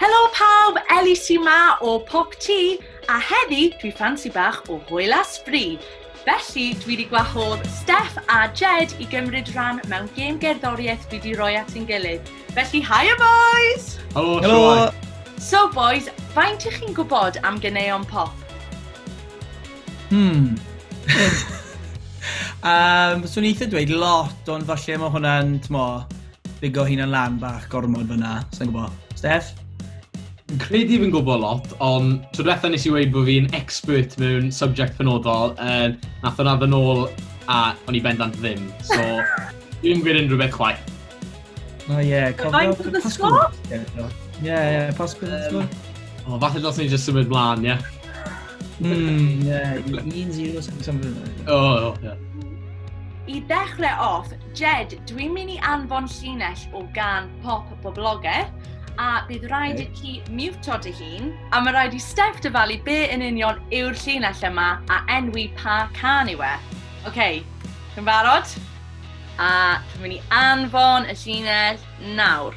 Helo pawb, Ellie sy ma o Pop Tŷ, a heddi dwi ffansi bach o hwyl a sbri. Felly, dwi wedi gwahodd Steph a Jed i gymryd rhan mewn gêm gerddoriaeth dwi wedi rhoi at ein gilydd. Felly, hiya boys! Helo, Helo. Sioi. So boys, faint ych chi'n gwybod am ganeuon pop? Hmm. um, swn i'n eitha dweud lot, ond falle mae hwnna'n, tmo, bigo hunan lan bach gormod fyna, sa'n gwbo. Steph? Fi'n credu fi'n gwybod lot, ond tro diwetha nes i weud bod fi'n expert mewn subject penodol, uh, nath o'n addo nôl a o'n i bendant ddim. So, dwi'n gwneud unrhyw beth chwaith. O ie, cofio Pasgwr. Ie, ie, Pasgwr. O, falle dros ni'n just symud mlaen, ie. Hmm, ie, un zero, something like that. O, ie. I ddechrau off, Jed, dwi'n mynd i anfon llinell o gan pop bobloger, a bydd rhaid i ti miwto dy hun, a mae rhaid i Steph dyfalu be yn union yw'r llinell yma a enwi pa can yw e. Oce, okay, chi'n barod? A dwi'n mynd i anfon y llinell nawr.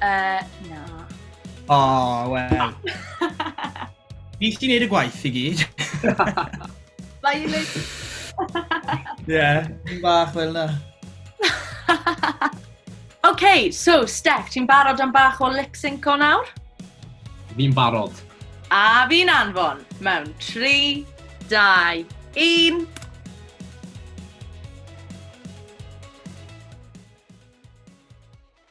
Uh, na. O, oh, wel. Ni ti'n neud y gwaith i gyd. Mae i'n neud... Ie, yn bach fel na. OK, so, Steph, ti'n barod am bach o lip sync o nawr? Fi'n barod. A fi'n anfon mewn 3, 2, 1...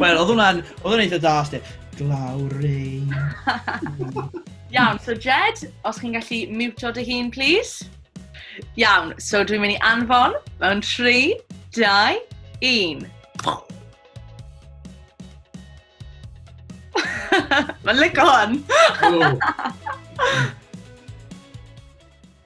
Wel, oedd hwnna'n, oedd hwnna'n eitha da, Steph. Glaw rain. Iawn, so Jed, os chi'n gallu mutio dy hun, please. Iawn, so dwi'n mynd i anfon mewn 3, 2, 1. Mae'n lygo hwn!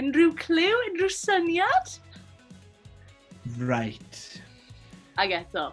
Unrhyw clyw, unrhyw syniad? Right. Ag eto.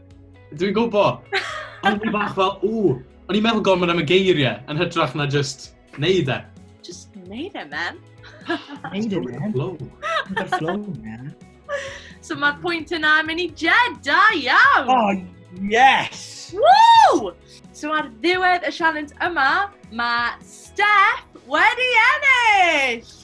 Dwi'n gwbo! Ond fi bach fel, ww, o'n i'n meddwl gormod am y geiriau, yn hytrach na just neud e. Just neud e, man. Neud e, man. Flow. Neud e flow, man. So mae'r pwynt yna yn mynd i Jed, da iawn! Oh, yes! Woo! So ar ddiwedd y sialens yma, mae Steph wedi ennill!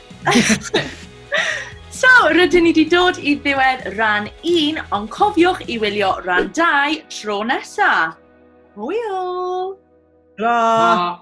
So, rydyn ni wedi dod i ddiwedd rhan 1, ond cofiwch i wylio rhan 2 tro nesa. Hwyl! Ra!